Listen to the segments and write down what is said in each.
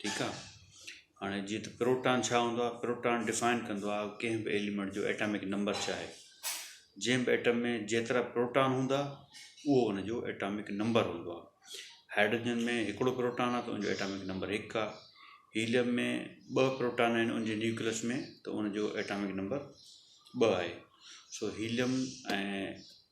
ٺيڪ آ هاڻي جيئن ته پروٽان ڇا هوندو آ پروٽان ڊفائن ڪندو آ ڪنهن به ايليمينٽ جو ايٽامڪ نمبر ڇا آهي جنهن به ايٽم ۾ جيترا پروٽان هوندا اهو ان جو ايٽامڪ نمبر هوندو آ هائڊروجن ۾ هڪڙو پروٽان آ ته ان جو ايٽامڪ نمبر هڪ آ هيليم ۾ ٻه پروٽان آهن ان جي نيوڪلس ۾ ته ان جو ايٽامڪ نمبر ٻه آهي سو هيليم ۽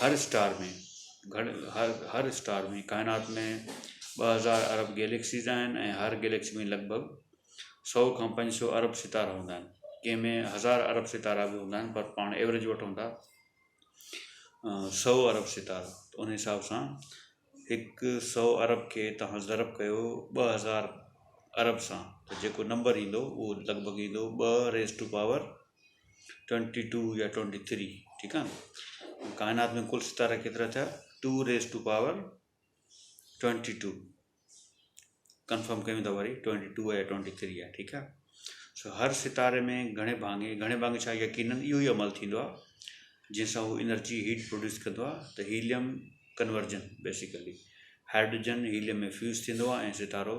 هر اسٽار ۾ گهڙ هر هر اسٽار ۾ ڪائنات ۾ ٻه هزار ارب گيليڪسيز آهن ۽ هر گيليڪسي ۾ لڳ ڀڳ سؤ کان پنج سؤ ارب ستارا هوندا آهن ڪنهن ۾ هزار ارب ستارا به هوندا آهن پر پاڻ ايوريج وٺون ٿا سؤ ارب ستارا ته ان حساب سان هڪ سؤ ارب کي تهان ضرب ڪيو ٻه هزار ارب سان ته جيڪو نمبر ايندو اهو لڳ ڀڳ ايندو ٻه raise to power twenty two يا ٽوئنٽي ٿري ٺيڪ آ ڪائنات ۾ ڪل ستارا ڪيترا ٿيا two raise to power twenty two confirm ڪيون ٿا وري ٽوئنٽي ٽو يا ٽوئنٽي ٿري آ ٺيڪ آ سو هر ستاري ۾ گهڻي ڀاڱي گهڻي ڀاڱي ڇا يقين اهو ئي عمل ٿيندو آ جنهن سان هو انرجي هيٽ پروڊيوس ڪندو آ ته helium conversion basically hydrogen helium ۾ fuse ٿيندو آ ۽ ستارو